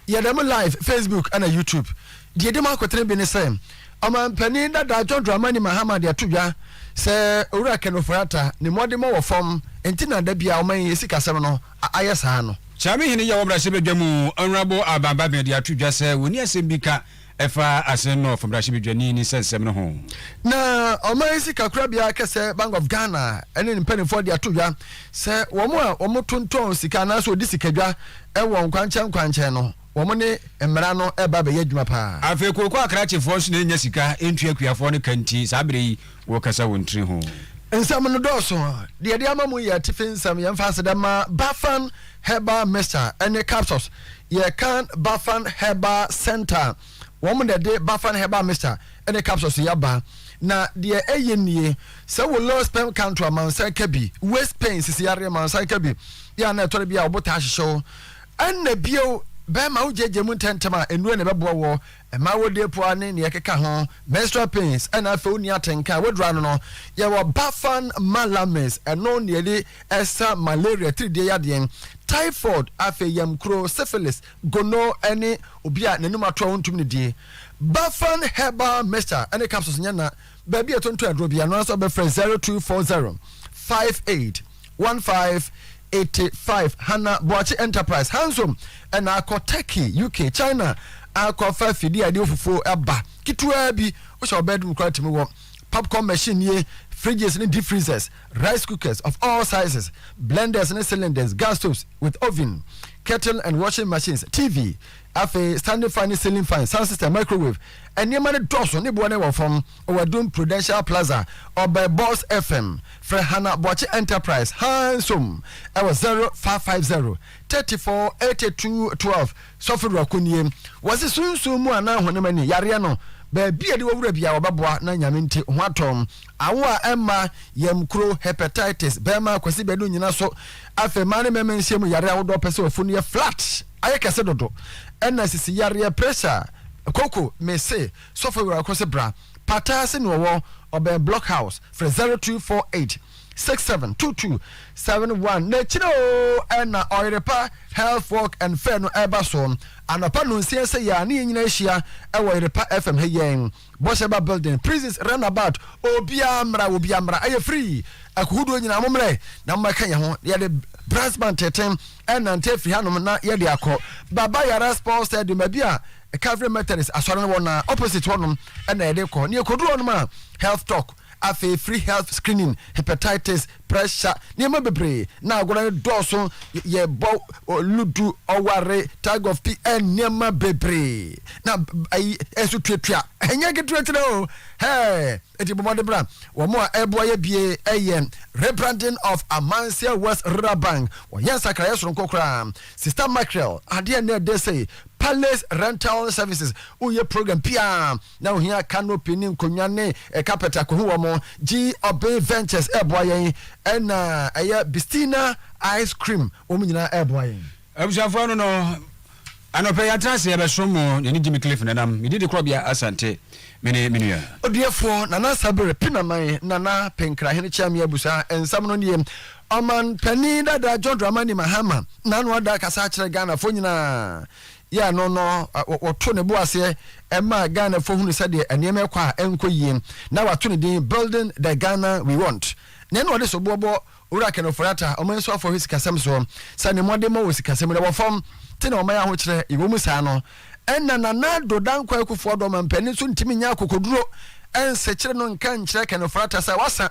yɛ dɛm live Facebook ɛna YouTube. Deɛ edi mu akotene bi ne sɛ ɔmanpanin dada John Dramani Mahama de ato dwa sɛ Owura Ken Ofori-Atta ne mmɔdemmɔ wɔ fam nti na da bi a ɔman yi asikasɛm no ayɛ saa no. Kyame hene yi a ɔwɔ mmarahyɛbadwa mu, Honourable Alban Bagbin de ato dwa sɛ wɔnni asɛm bi ka Ɛfa Assin North mmarahyɛbedwani ne nsɛnsɛm no ho. Na ɔman sikakorabea kɛsɛ Bank of Ghana ne ne mpanimfoɔ de ato dwa sɛ wɔn a wɔtontɔn sika anaasɛ wɔdi sikadwa wɔ nkwankyɛn nkwankyɛn no, wɔn ne mmara no reba abɛyɛ adwuma pa ara. Afei kooko akrakyefoɔ nso na ɛnnya sika ntua akuafoɔ no ka nti, saa berɛ yi, Wokasa wo ntiri ho. Nsɛm no dɔɔso. Deɛ yɛde ama mu yɛ atifi nsɛm. Yɛn mfa ase dɛ ma Bafan Herbal Mixture ɛne Capsules. Yɛ kan Bafan Herbal Center. Wɔn na ɛde Bafan Herbal Mixture ɛne Capsules yi aba. Na deɛ ɛyɛ nie, sɛ wo low sperm count a, ma nsa ka bi. Waist pain, sisi yareɛ, ma nsa ka bi. Yɛ a na ɛtɔ da bi a wo bo taa hyehye wo. Ɛna bio, bɛrima wo gyagya mu ntɛntɛm a, nnuro na ɛbɛboa woɔ. Ɛma wodi apuwa ne nea ɛkeka ho, menstrual pains, ɛna afei wonni atenka a woduru ano no. Yɛwɔ Bafan Malames, ɛno na yɛde sa malaria, tiridie yadeɛ, typhoid, afei yamkuro, syphilis, gono ne obi a n'anum ato a ontumi nnidie. Bafan Herbal Mixture ne capsules nyɛ na. baabi a ɛtontɔn aduro bi ano nso bɛfrɛ zero two four zero five eight one five eighty five hana boakye enterprise hansom ɛna akɔ turkey uk china akɔfa fidie a ɛde ofufuo ɛba ketewa bi wohyɛ ɔbɛn dum koraa tumi wɔ popcorn machine nie fridges ne deep freezers rice cookers of all sizes blenders ne cylinders gas stoves with oven kettle and washing machines tv Afei standing fan ne ceiling fan, sound system, microwave, nneɛma no dɔɔso ne boɔ no wɔ fam wɔ Adum Prudential Plaza, Ɔbɛɛ Boss FM. Frɛ Hannah Boakye Enterprise, Hands Home, wɔ zero five five zero, thirty four, eighty two, twelve. Sɔfo Ruako nie. Wɔse sunsum mu anaa honam ani yareɛ no, baabi a yɛde wɔ wura biara wɔbɛboa na Nyame nti ho atɔ. Awo a ɛmma, yam kuro, hepatitis, bɛɛma, Kwasi Badu nnyina so. Afei mmaa ne mɛɛma nhyiamu yareɛ ahodoɔ pɛ sɛ ɔfunu yɛ flat. Ayɛ kɛse dodo ɛna sisi yareɛ pressure a koko me se sɔfo awura ko se bra pataa se nea ɔwɔ ɔbɛn block house frɛ zero two four eight six seven two two seven one na akyire oo ɛna ɔyere pa health walk and fair no ɛba soɔ anɔpa nonsia seyɛ a ne yɛn nyinaa hyia ɛwɔ ɔyere pa FM ha yɛn Bɔhyɛ ba building, prisons, run about, obiara mmra, obiara mmra, ɛyɛ free, akohodoɔ nyinaa mo mmerɛ na mo ɛka yɛn ho, yɛde brass band teten ɛnante afiri hanom na yɛde akɔ Baba Yara Sports Stadium, baabi a Calvary Methodist asɔre no wɔ na opposite hɔnom ɛna yɛde kɔ, na yɛkɔduru hɔnom a health talk. Afei free health screening, hepatitis, pressure, nneɛma bebree na agorɔ no dɔɔso, yɛ bɔ ludu, ɔware, tug of pi, eh, nneɛma bebree na ayi ɛso tuatua, ɛnyɛ ketewa tena o, hɛɛ, eti bɔ mmɔden bra, wɔn a ɛboa yɛ bie ɛyɛ rebranding of Amanseɛ West Rural Bank, wɔyɛ nsakraeɛ soronko koraa, Sister Mackerel, adeɛ na ɛdɛ sei, Palace Rental Services, woyɛ program pia, Na ohia canopy ne nkonwa ne carpet akohu wɔn. Gye Obey Ventures ɛɛboa yɛn ɛna ɛyɛ Bistina Ice Cream wɔn nyinaa ɛɛboa yɛn. Abusuafoɔ ɛno no anɔpɛ yi atena ase ɛbɛsom mo yɛne Jimmy Cliff Nanam me didikorɔbea Asante me ne me nua. Odiɛfoɔ Nana Sabere Pinaman Nana Penkrahene Kyɛame Abusua nsɛm no nie Ɔman panin dada John Dramani Mahama Nano ada kasa akyerɛ Ghanafoɔ nyinaa yɛɛ no no, wɔtoo ne bo aseɛ maa Ghanafoɔ hunu sɛdeɛ nneɛma ɛkɔ a ɛnkɔ yie na wato ne din Building the Ghana We Want. Na ɛna ɔde soboɔ bɔ Owura Ken Ofori-Atta, ɔman nsuafoɔ hɔ sikasɛm soɔ sɛ ne mmɔdemmɔ wɔ sikasɛm mu na ɛwɔ fam te na ɔman ahokyerɛ yɛwɔ mu saa no ɛna Nana Addo Dankwa Akufo-Addo ɔmampanin nso ntumi nyɛ akokoduro nsekyere no nka nkyerɛ Ken Ofori-Atta sɛ wasa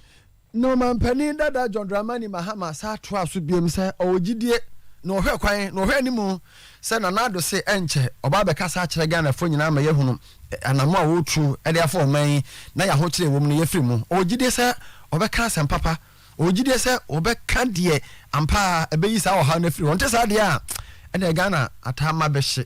na ɔmanpanin dada John Dramani Mahama san toaa so biom sɛ ɔwɔ gyidie na ɔhwɛ kwan na ɔhwɛ anim sɛ Nana Addo se ɛnkyɛ ɔba abɛkasa akyerɛ Ghanafoɔ nyinaa ma yɛahunu anammɔn a wɔretu de afa ɔman yi na yɛ ahokyerɛ a ɛwɔ mu no yɛafiri mu. Ɔwɔ gyidie sɛ ɔbɛka asɛm papa, ɔwɔ gyidie sɛ ɔbɛka deɛ ampa ara ɛbɛyi saa ɔhaw no afiri hɔ. Ɔnte saa deɛ a, ɛnneɛ Ghana ataa ma bɛhye.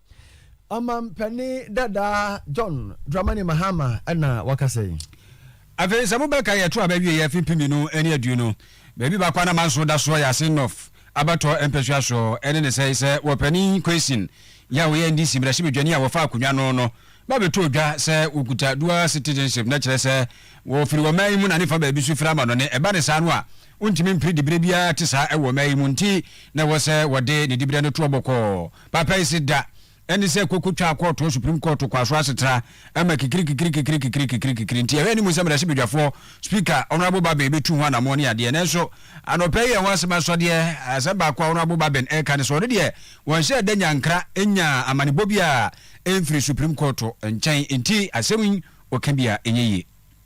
Ɔmampanin dada John Dramani Mahama na wakasa yi. Afei sɛ mobɛka yɛ to a bɛwie yɛ fi mpemino ne aduonu baabi baako a na manso da soɔ yɛ ase nɔf abɛtɔ mpɛsua soɔ ɛne ne sɛe sɛ wɔ panin Kwesyn yɛ a ɔyɛ NDC mmarahyɛ badwani a wɔfa akonwa no no ba bɛtɔɔ dwa sɛ wɔkuta dual citizenship na kyerɛ sɛ wɔfiri wɔ man yi mu na ne fa baabi so firi amanɔne ɛba ne saa no a Wontumi mpere diberɛ biara te saa wɔ mmaa yi mu nti na ɛwɔ sɛ wɔde ne diberɛ no toɔ bɔkɔɔ. Papa yi se da ɛne sɛ koko twaa kɔɔto Supreme Court kwaso asetra ma kikirikikirikikirikikirikikirikikiri nti ɛhɔ anim sɛ mmarahyɛbadwafoɔ, Speaker, Honourable Babin bɛtu ho anammɔn ne adeɛ. Nanso anɔpa yi ɛho asɛm asɔ deɛ. Asɛm baako a Honourable Babin reka ne sɛ ɔno deɛ wɔnhyɛɛ da nyankra nyaa amanebɔ biara mfiri Supreme Court nkyɛn nti asɛm yi ɔka biara ɛnyɛ yie.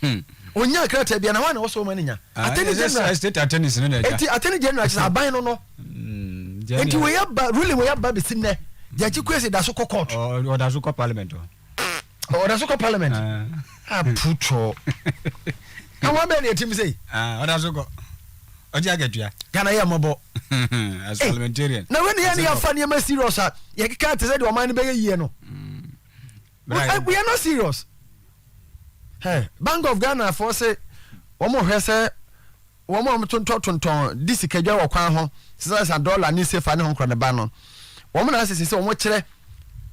Hmm. Onyaa krataa bi na wɔn na wɔsɔ wɔn ani nya. Ah, attorney general. State attorney sinɛ na ɛda. Eti attorney general kyerɛ aban no no. Hmm, Eti wei aba ruling wei aba besi nnɛ. Judge Kwesi da so kɔ court. Ɔda so kɔ parliament o. Ɔda so kɔ parliament. Aputɔ. Àwọn abẹ́ẹ̀ ni ẹtí mi sẹ́yìn. Ọ̀dà so kọ. Ọjọ́ àgẹ̀tua. Ghana yẹ ọmọ bọ. As parliamentarian. Na wẹ́n ni yẹn ni yà fa ní ẹ mẹ́ serious a yẹ kíkà tẹ̀sẹ̀ di ọmọ ẹni bẹ́ẹ̀ yẹ yie no. we are not serious hey, bank of ghana foɔ se wɔn hwɛ sɛ wɔn a wɔtontɔn tontɔn di sikadwa wɔ kwan ho sisa sa dɔla ne sefa ne ho nkora ne ba no wɔn na asese sɛ wɔn kyerɛ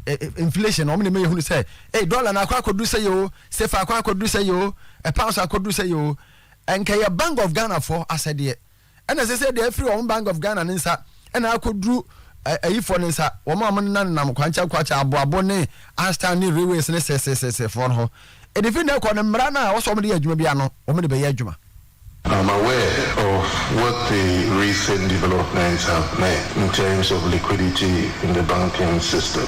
eh, eh, inflation wɔn na ɛmɛ yɛ hunu sɛ ee dɔla na akɔ akɔdu sɛ yɛ o sefa akɔ akɔdu sɛ yɛ o eh, pounds akɔdu sɛ yɛ o nkɛyɛ bank of ghana foɔ asɛdeɛ. ɛna ɛsɛ sɛ ɛde afiri wɔn Bank of Ghana ne nsa ɛna akɔduru ayifoɔ ne nsa wɔn a wɔnenanenam kwankyɛn kwankyɛn aboabo ne astan ne railways ne sɛsɛsɛsɛfoɔ no ho ɛde firi na ɛkɔ no mmara no a wɔsɛ wɔn de yɛ adwuma biara no wɔn de bɛyɛ adwuma. I'm aware of what the recent developments have meant in terms of liquidity in the banking system.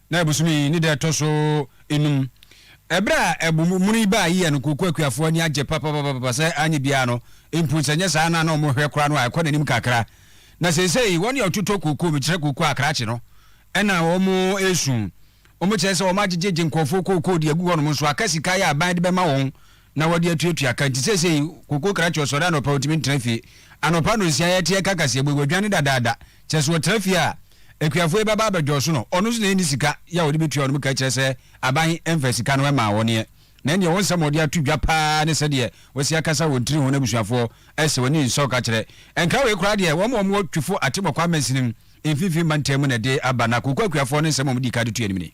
na bosome yi ne da a ɛtɔ so nnum. Ɛberɛ a ɛbo mono yi baa yi yɛ no Kooko Akuafoɔ ani agye papapapapa sɛ anyɛ biara no mpo sɛ nyɛ saa na na wɔn hwɛ koraa no a ɛkɔ n'anim kakra. Na seisei wɔn yɛ ɔtotɔ kooko me kyerɛ kooko a krakye no ɛna wɔn resu. Wɔn kyerɛ sɛ wɔn agyegyegye nkorɔfoɔ kooko de agu hɔ nom nso aka sika yɛ aban de bɛma wɔn na wɔde atuatua ka nti seesei Koko krakye ɔsɔre anɔpa ɔtumi ntena fie. Anɔpa anonsiaa yɛte ɛka kaseɛ bɔ yi wadwane dadaada. Kyerɛ sɛ ɔtra fie a akuafoɔ yi bɛba abɛdwɔɔso no. Ɔno nso na ɛnni sika yɛ a ɔde bɛtua wɔnom ka kyerɛ sɛ aban mfa sika no mmaa wɔn ɛ. Na ɛnneɛ wɔn nsɛm a ɔde ato dwa pa ara ne sɛdeɛ wasi akasa wɔn tiri ho n'abusuafoɔ sɛ wɔnni nsɔ ka kyerɛ. Ɛnka wei koraa deɛ wɔn a wɔwɔ Twifo Atemɔkwa Amansini mfimfini mantam mu na ɛde aba na Koko akuafoɔ no nsɛm a wɔdii ka de tu anim ni.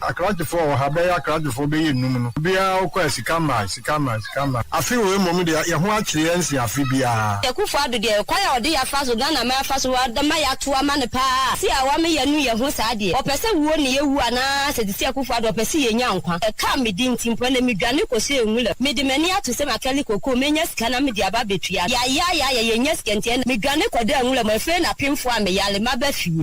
Akrakyefoɔ wɔ ha, bɛyɛ akrakyefoɔ bɛyɛ nnum no, obiara wokɔ a sika mmae, sika mmae, sika mmae. Afe wei mmom deɛ, yɛn ho akyere yɛn sen afe biara. Akufo Addo deɛ kwan a ɔde yɛ afa so Ghana man afa so de ma yɛ ato ama no paa se a wame yɛ nu yɛ ho saa deɛ ɔpɛ se wuo ne yɛ wu anaa se te se Akufo Addo ɔpɛ se yɛ nya nkwa ɛkaa me di nti mpo ɛnɛ me dwane kɔ se Nwuram me de m'ani ato se makɛle koko me nya sika na me de aba bɛ tua yɛ ayɛ ayɛ ayɛ yɛ nya sika nti ɛnɛ me dwane kɔ da Nwuram afei na pemfoɔ a me yale maba fie.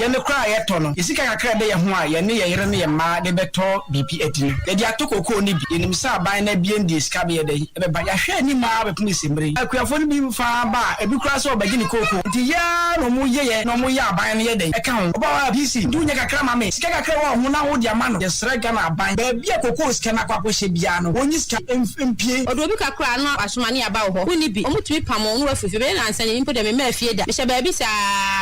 Yɛn de koraa a yɛtɔ no, yɛn sika kakra a ɛda yɛn ho a yɛne yɛn yere ne yɛn mma de bɛtɔ biribi adi no, yɛde atɔ kokoo no bi. Yɛnim sɛ aban no abien deɛ sika bɛyɛ dɛn? Ɛbɛba. Yɛahwɛ anim ara abɛpem nsemmire yi. Akuafoɔ no bi mfa aba a, ebi koraa sɛ wɔbɛgye ne kokoo. Enti yɛ ara na wɔyɛ yɛ na wɔyɛ a aban no yɛ dɛn? Ɛka ho. Ɔbaa hɔ a, PC, nti wonya kakra ma me? Sika kakra a ɛwɔ wo ho no ara wode ama no. Yɛsrɛ Ghana aban, baabi a kokoo sika no akɔ akɔhyɛ biara no, wɔnyi sika mpue. Ɔde obi kakra a na wasoma ne aba wo hɔ. Wonni bi. Wɔtumi pam wɔn na wɔafiri fie. Ɛbɛyɛ nnansa ni mpo deɛ memmaa fie da. Mehyɛ baabi saa.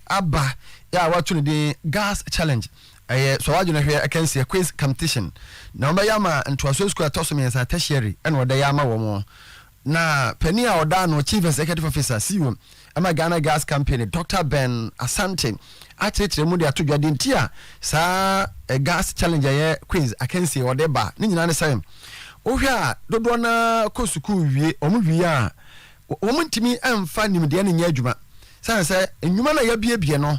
aba a wɔato no din Girls Challenge, ɛyɛ Sɔ W'adwene Hwɛ akansie, quiz competition, na wɔbɛyɛ ama ntoasoɔ sukuu a ɛtɔ so mmiɛnsa, tertiary, na wɔde yɛ ama wɔn. Na panin a ɔda ano, Chief Executive Officer, CEO, ɛma Ghana Girls Company, Doctor Ben Asante, akyerɛkyerɛ mu de ato dwa deɛ nti a saa Girls Challenge a ɛyɛ quiz akansie wɔde ba ne nyinaa ne sɛ, wohwɛ a dodoɔ no ara kɔ sukuu wie, wɔn wie a Wɔntumi mfa nimdeɛ no nyɛ adwuma, sane sɛ nnwuma no a yɛabuebue no,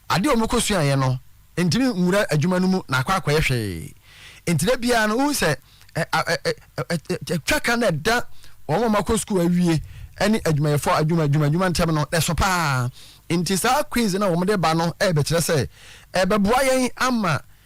ade a wɔkɔsuaeɛ no ntumi nwura adwuma no mu na akɔ akɔyɛ hwee. Enti da biara no, wohu sɛ twaka no a ɛda wɔn a wɔakɔ sukuu awie ne adwumayɛfoɔ adwuma adwuma adwuma ntam no, ɛso pa ara. Enti saa quiz no a wɔde ba no rebɛkyerɛ sɛ ɛbɛboa yɛn ama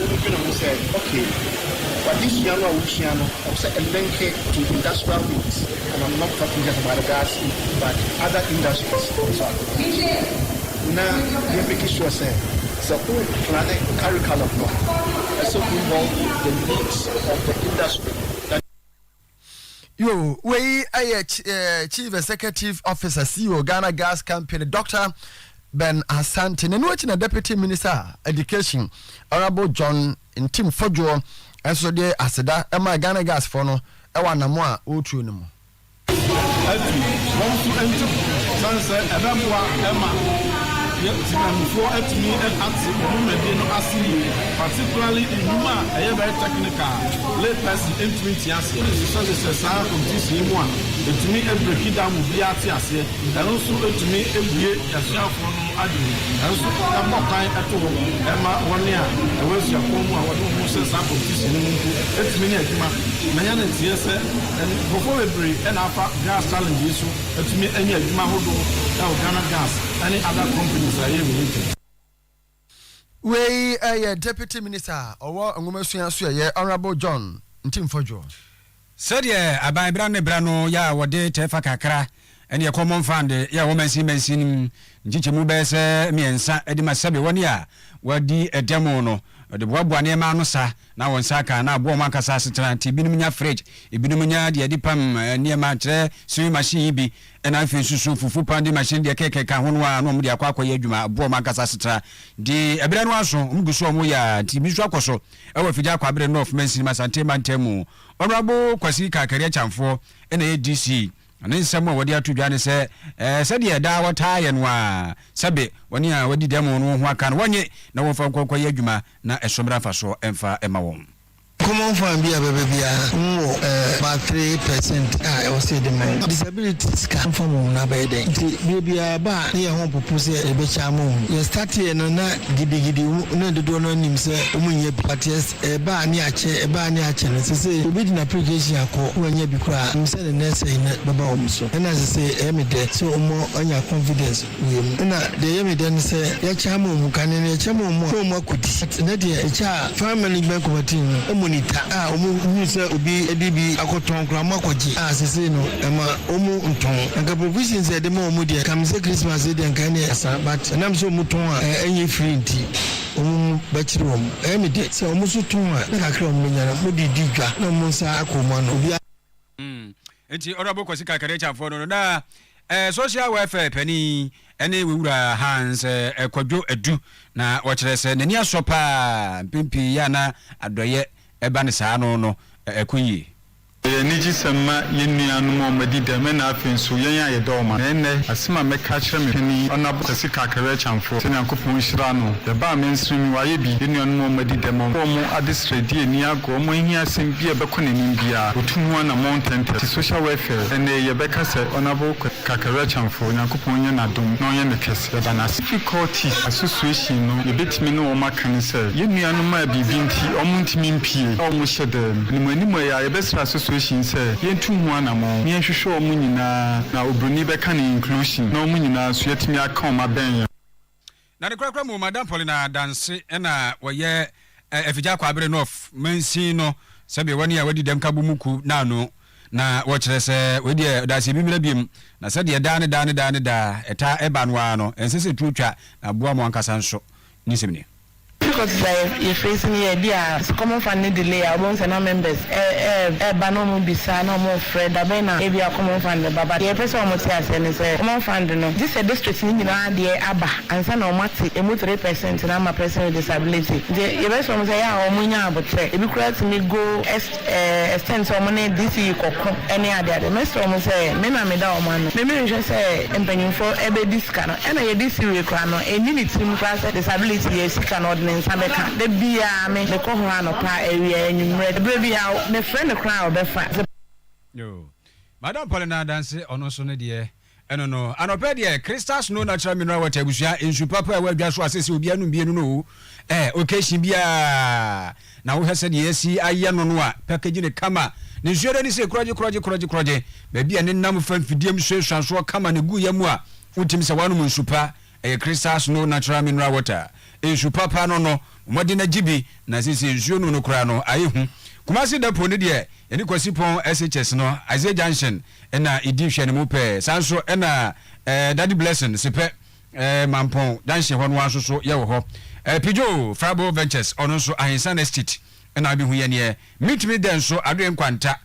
wobedwene ho sɛ okay, w'adesua no a wosua no ɛwɔ sɛ ɛlinke to industrial needs and I'm not talking just about the gas but other industries nso a, na yɛ make sure sɛ sɛ wo plane curriculum no a, ɛsɛ involve the needs of the industry that Yo, wei ɛyɛ Chief Executive Officer CEO Ghana Gas Company Dr. Ben Asante na ɛno akyi na Deputy Minister Education Honourable John Ntim Fodwoɔ nso de aseda ɛma Ghana Gas foɔ no ɛwɔ anamo a wɔretuo no mu. Atu wɔn nso ntim sane sɛ ɛbɛboa ɛma Timamufoɔ atumi ate wɔn dwumadie no ase yie particularly nnwuma a ɛyɛ very technical. Lee Percy ntumi nte aseɛ, ɛhyehyɛ no sɛ saa ntisii mu a ɛtumi breki da mu biara te aseɛ, ɛno nso tumi bue asuafoɔ no adwene, ɛnso ɛbɔ kwan to hɔ ma wɔn a ɛwɔ asuapɔn mu a wɔde wɔn ho hyɛ saa kɔmpitisyin no mu mpo tumi nya adwuma. Manya no nteɛ sɛ nkorɔfoɔ bebree na afa Gas Challenge yi so atumi anya adwuma ahodoɔ wɔ Ghana Gas ne other companies a ɛyɛ related. Wei yɛ Deputy Minister a ɔwɔ Nwomasua so yɛyɛ Honourable John Ntimfodwo. Sɛdeɛ aban berɛ ano ne berɛ ano yɛ a wɔde tɛɛfa kakra ne yɛ common fund yɛ wɔ mansin mansin mu nkyekyɛmu bɛyɛ sɛ mmiɛnsa de ma sɛbe wɔn a wɔadi dɛm no de boaboa nneɛma ano sa na wɔn nsa aka na aboa wɔn ankasa asetena nti ebinom nya fridge ebinom nya deɛ yɛde pam nneɛma kyerɛ sewing machine yi bi Ɛna afei nso so fufu pounding machine deɛ kɛkɛ ka ho no a na wɔn de akɔ akɔyɛ adwuma ɛboa wɔn ankasa asetra de ɛbrɛ no aso wɔn gu so wɔn yɛ a nti bi nso akɔ so ɛwɔ afigya akɔ abere North Mansinim Asante mantam mu Honourable Kwasi Kakari Akyamfoɔ ɛna ɛyɛ DC na ne nsɛm a wɔde ato dwa ne sɛ ɛɛ sɛdeɛ daa wɔtaa yɛ no a sɛbe wɔne a wɔadi dɛm no ho aka no wɔnye na wɔmfa nkɔ nkɔyɛ adwuma na ɛso mmra mfasoɔ ɛmfa ɛma wɔn. Common fund bi a ɛbɛba biara wɔn wɔ about three percent a ɛwɔ sɛ yɛde ma wɔn. Disability sika mfa ma wɔn no abɛyɛ dɛn nti bere biara ɛba a na yɛn ho mpopo sɛ yɛbɛkyɛ ama wɔn. Yɛ start yɛ no na gidigidi wɔn na dodoɔ no ara nim sɛ wɔn nnya bi but yɛ ɛba a ne yɛakyɛ ɛba a ne yɛakyɛ no sesei obi de n'application akɔ na wannya bi koraa a nim sɛ ne nɛɛsɛe no bɛba wɔn so ɛna sesei ɛyɛ me dɛ sɛ wɔn anya confidence. wie mu. Nna deɛ ɛyɛ me dɛ ne sɛ yɛkyɛ ama ɔmu kane no, yɛkyɛ ma ɔmu a, na ɔmu akɔdi. But nnɛ deɛ ɛkyɛ a Farm Management Committee no ɔmu ni ta a ɔmu hunu sɛ obi de bi akɔtɔn koraa ɔmu akɔgye a sesei no ɛma ɔmu ntɔn. Anka provisions a yɛde ma ɔmu deɛ nka mesɛ Christmas yi deɛ nka ɛneɛ asa but ɛnam sɛ ɔmu tɔn a ɛnyɛ free nti ɔmu mu bɛkyere ɔmu. Ɛyɛ me dɛ sɛ ɔmu nso tɔn a na kakra a ɔmu bɛnya no ɔmu de redi dwa na ɔmu nsa aka ɔmu ano. Obiara. Mm. Enti Honourable Kwasi Kakarikyanfoɔ no no na eh, Social Welfare panin ɛne Wewura Hans eh, Kwadwo Adu na wɔkyerɛ sɛ n'ani asɔ paa mpɛn pii yɛ a na adɔeɛ ɛba ne saa ano no eh, ɛkɔ yie. Ɛyɛ anigyesɛm ma yɛn nuanom a wɔadi dɛm ɛna afei nso yɛn a yɛdɔ wɔn. Na ɛnnɛ, asɛm a mɛka akyerɛ me panin Honourable Kwasi Kakarikyanfoɔ sɛ Nyankopɔn nhyira no. Ɛbaa me nso me wayɛ bi, yɛn nuanom a wɔadi dɛm wɔn adesrɛdie ani Wɔn ahiasɛm bi a ɛbɛkɔ n'anim biara, wɔtu ho anammɔn ntɛmntɛm. Te social welfare, ɛnnɛ yɛbɛka sɛ Honourable Kwasi Kakarɛ-Kyanfoɔ, Onyankopɔn nyɛ n'adom na ɔnyɛ no kɛse. Yɛda no ase. Difficulties Association no, yɛbɛtumi ne wɔn aka ne sɛ, yɛn nuanom a biribi nti wɔn ntumi mpue a wɔn hyɛ dan mu. Animuanimu ɛyɛ a, yɛbɛsrɛ Association yi sɛ, yɛntu ho anammɔn na yɛnhwehwɛ wɔn nyinaa, na obroni bɛka no inclusion, na wɔn nyinaa nso yɛatumi aka wɔn abɛn yɛn ho. Na no korakora mu Madam Paulina Danse na ɔyɛ Afigya Kwaabere North mansin no sɛdeɛ wɔne a wɔadi dɛm ka bɔ mu kuo no ano na wɔkyerɛ sɛ wei deɛ ɔdaase bi mmra biom na sɛdeɛ daa ne daa ne daa ne daa ɛtaa ɛba no ara no ɛnsɛ sɛ tuo twa na boa mo ankasa nso ne nsɛm nie. Pcos dza yɛ face nye dɛ bi a sɛ common fund no delay a wɔbohu sɛ na members ɛɛba na wɔn bisa na wɔn frɛ dabɛn na ebi a common fund bɛba but deɛ yɛpɛ sɛ wɔn te aseɛ ne sɛ common fund no gye sɛ district no nyinaa deɛ aba ansa na wɔn ate emu three percent no ama person with disability nti yɛbɛ srɛ wɔn sɛ yɛ a wɔn nyɛ aboterɛ ebi koraa tumi go Ɛsɛn sɛ wɔn ne DC rekɔko ne adeade. Mɛsrɛ wɔn sɛ me na meda wɔn ano. Me menhwɛ sɛ mpanyimfo bɛdi sika no. Ɛna yɛ DC wei koraa no, ɛnni ne tirim koraa sɛ disability yɛ sika na ɔde ne nsa bɛka. Da biara me, mekɔ hɔ anɔpa, awia, anwummerɛ. Berɛ biara mefrɛ no koraa a ɔbɛfa. Yoo. Madam Paulina Adanse, ɔno nso ne deɛ, Ɛno no, anɔpɛ deɛ Crystal Snow Natural Mineral Water abusua nsu papa a ɛwɔ adwa so a sɛsɛ obiara nom bienu no o, ɛɛ occasion biara. Na wohwɛ sɛdeɛ yɛasi ayɛ no no a, package no kama. Ne nsuo no ani sɛ krɔgye krɔgye krɔgye krɔgye. Baabi a ɛnenam fa mfidie mu suasua soɔ kama na ɛgu yam a, wotumi sɛ woanom nsu pa. Ɛyɛ crystal snow natural mineral water nsu papa no no mmɔden agye bi na sese nsuo nom no koraa no ayɛ hu Kumasi dɛpo no deɛ yɛne Kwasi pɔn SHS no Isaiah junction na ɛdi hwɛ no mu pɛɛ saa nso na eh, Daddy Blessing Sepɛ eh, Mampɔn junction hɔ no ara nso so yɛwɔ hɔ eh, Pidgio Frabo Ventures ɔno nso Ahensan Estate na abɛhu yɛneɛ Mintumi dɛ nso Adoe Nkwanta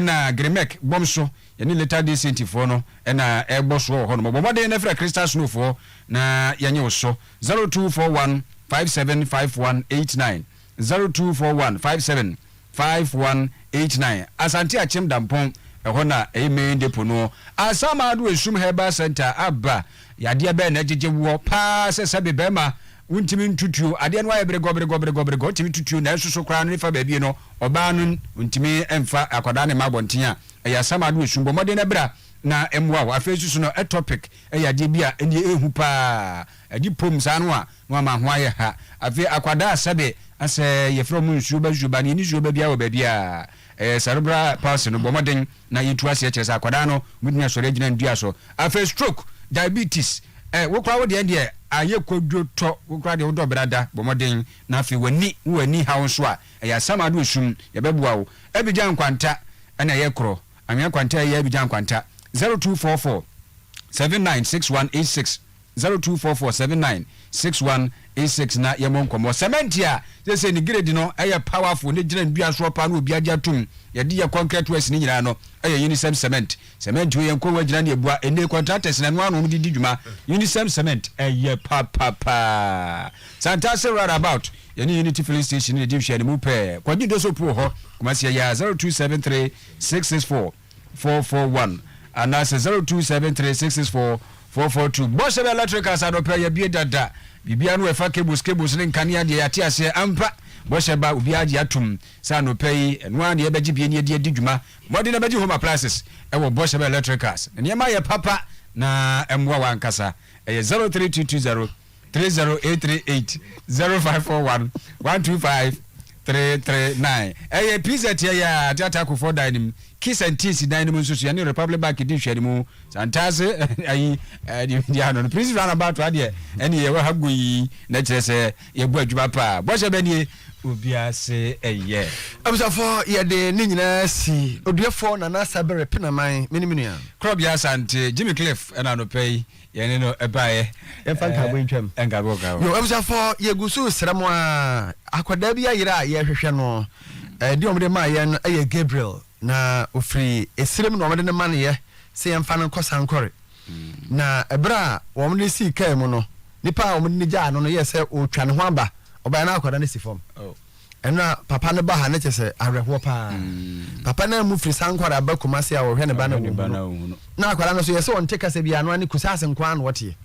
na Gremek bɔm so yɛne Later Day Saint foɔ no na ɛrebɔ soɔ wɔ hɔ nom. Bɔ mmɔden na frɛ Crystal Snow foɔ na yɛnye wo so. Zero two four one five seven five one eight nine, zero two four one five seven five one eight nine, Asante Akyem Dampɔn, ɛhɔ na ɛyɛ main depo noɔ. Asaama Ado Esum Herbal Centre aba. Yadeɛ bɛn na ɛgyegye woɔ paa sɛ sɛbe barima wontumi ntutuo? Adeɛ no ayɛ beregɔ beregɔ beregɔ beregɔ, wotumi tutuo nanso so koraa no ne fa baabi no ɔbaa no ntumi mfa akwadaa no mma abɔnten a, ɛyɛ asamado esum. Bɔ mmɔden na bra na ɛmmoa wo. Afei nso so no, ectopic yɛ adeɛ bi a ɛnneɛ ɛhu paa, ɛde pom saa no a na wama ho ayɛ ha. Afei akwadaa a sɛbe asɛ yɛfrɛ wɔn nsuoba nsuoba no, yɛnni nsuoba biara wɔ baabiara, ɛyɛ cerebral palsy no, bɔ mmɔden. Na yɛtu ase ɛkyerɛ sɛ akwadaa no bɛtumi asɔre agyina ne dua so. Afei stroke, diabetes, eh, wo koraa wo deɛ deɛ ayɛ kwadwo tɔ, wo koraa deɛ wodɔ brada, bɔ mmɔden na afei w'ani, wo w'ani haw nso a, ɛyɛ asamado esum, yɛbɛboa wo. Abidjan Nkwanta ɛna ɛyɛ korɔ, Anwea Nkwanta ɛyɛ Abidjan Nkwanta, zero two four four seven nine six one eight six. Zero two four four seven nine six one eight six na yɛmmɔ nkɔmmɔ. Cement a seesei ne grade no yɛ powerful ne gyina nnua soɔ paa na obiara gye atom, yɛde yɛ concrete works no nyinaa no yɛ Unisem Cement. Cement wei yɛn nko agyina ne abua, ɛnnɛ contractors na ɛno ara na wɔde di dwuma. Unisem Cement, ɛyɛ papapa. Santase round about, yɛne Unity Filling Station na ɛdi nhwɛanimu pɛɛ. Kwagye Doso Puo hɔ, Kumasi ɛyɛ a zero two seven three six six four. 441 anaasɛ 0273664442. Bɔhyɛ bɛ electricals adɔpɛ yɛbie dada biribiara no ɛfa cables cables ne nkanea deɛ yɛate aseɛ ampa bɔhyɛ ba obiara agye atom sɛ anɔpɛ yi ɛno ara na yɛbɛgye bie ne ɛde adi dwuma mmɔden na bɛgye home appliances ɛwɔ bɔhyɛ bɛ electricals ne nneɛma yɛ papa na ɛmmoa wankasa ɛyɛ 0322 three zero eight three eight zero five four one one two five three three nine. Ɛyɛ pizza tia yɛ a Ateate Akufoɔ dan no mu, Kiss and Tease dan no mu nso so yɛne Republic Bank di nhwɛanimu. Santase ayi deɛ ano no Prince Roundabout ha deɛ ɛne yɛwɔ ha goi na kyerɛ sɛ yɛbɔ adwuma paa. Bɔhyɛ bɛ nie, obiara se ɛyɛ. Abusuafoɔ yɛde ne nyinaa si Oduɛfoɔ Nana Sabere Penaman, me ne me nua. Korɔbea Asante, Jimmy Cliff ɛna anɔpa yi. yɛne no ɛbaeɛ yɛmfa nkaabo ntwam nkaabo ka hɔ abusuafo yɛgu so srɛ mo a akwadaa bi ayerɛ a yɛhwehwɛ no ɛde wɔn de maa yɛn no ɛyɛ Gabriel na ofiri esirem na wɔn de no ma no yɛ sɛ yɛmfa no nkɔ sankɔre na ɛberɛ a wɔn de sii kaa mu no nipa a wɔn de no gyaa no no yɛ sɛ ɔretwa ne ho aba ɔbaa na akwadaa no si fam Ɛno a papa no ba ha no kyɛ sɛ awerɛhoɔ paa. Papa no amu firi Sankwar aba Kumasi a ɔhwɛ ne ba no a wawu no. Na akwadaa no nso yɛ sɛ ɔnte kasa biara, ɛno ara ne Kusase nko ara na ɔteɛ.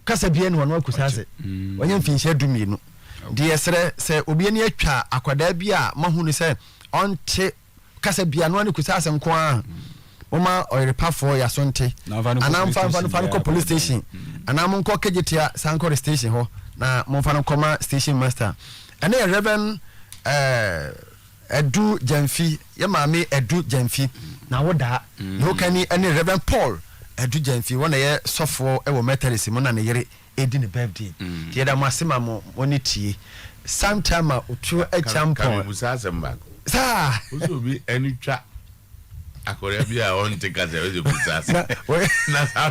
Kasa biara ni hɔ, ɛno ara Kusase. Wanya mfinhyia du mmienu. Nti yɛsrɛ sɛ obi ani atwa akwadaa bi a moahu no sɛ ɔnte kasa bia no ne kusa asɛm nko ara wɔma ɔyerepafoɔ yaso nte anaa mfa mfa no fa no kɔ police station anaa mo nkɔ kegyetia sankore station hɔ na momfa no nkɔma station master ɛne yɛ reverend ɛdu eh, gyamfi yɛ maame ɛdu gyamfi na wodaa na wokani ɛne reverend paul ɛdu gyamfi wɔn na yɛ sɔfoɔ ɛwɔ methodist mu na ne yere edi ne birthday nti yɛda mo ase ma mo mo ne tie Santer ma oturo akyam pɔn. Ka me busa asɛm baako. Saa. Wosɛ obi ani twa akɔda bi a ɔnte kasa wosɛ busa asɛm na saa.